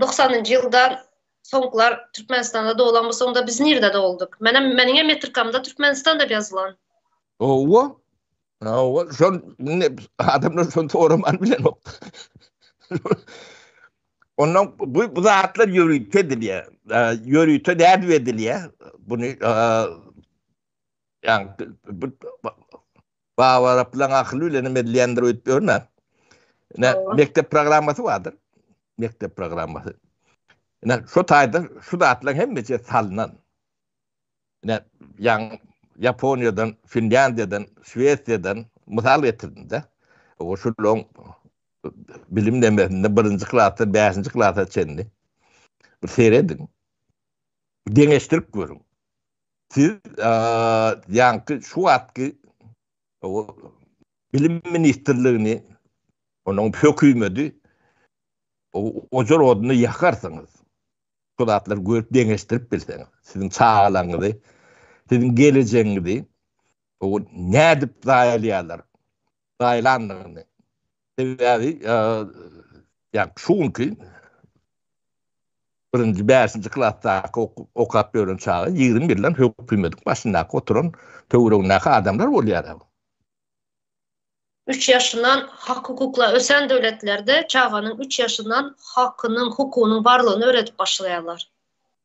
Doksanynjy ýylda soňkular Türkmenistanda doglan bolsaň onda biz nirde doguldyk? Menem meniň hem metrikamda Türkmenistan dep ýazylan. Howwa. Howwa, şol indi adamlar şony soraman bilenokda. Ondan bu bu zatlar ýörite edilýär. Ýörite dädip edilýär. Buny ýa bu Baba Araplan akyl bilen hem edilýändir öýtüp ýörme. Ne mekdep programmasy bardyr. Mekdep programmasy. Ne şu taýda şu zatlar hem meçe salnan. Ne ýan Ýaponiýadan, Finlandiýadan, Şwesiýadan mysal getirdim de. O şu long bilim demesinde birinji klasda, bäşinji klasda çenli. Bir seyredin. Deňeştirip görün. Siz ýaňky şu wagtky bilim ministrligini onuň hökümeti ojar oduna ýakarsyňyz. Şol zatlar görüp deňeşdirip bilseňiz, siziň çagalaryňyzy, siziň gelejegiňizi nädip zaýalýarlar? gaýlandygyny, sebäbi ýa-da şu günki birinji, bäşinji klasdaky okap ýören çaga ýigrimi ýyldan hökümediň başyndaky oturan töweregindäki adamlar bolýar. Üç ýaşyndan hak-hukuklar ösen döwletlerde çaganyň üç ýaşyndan hakynyň, hukugynyň barlygyny öwredip başlaýarlar.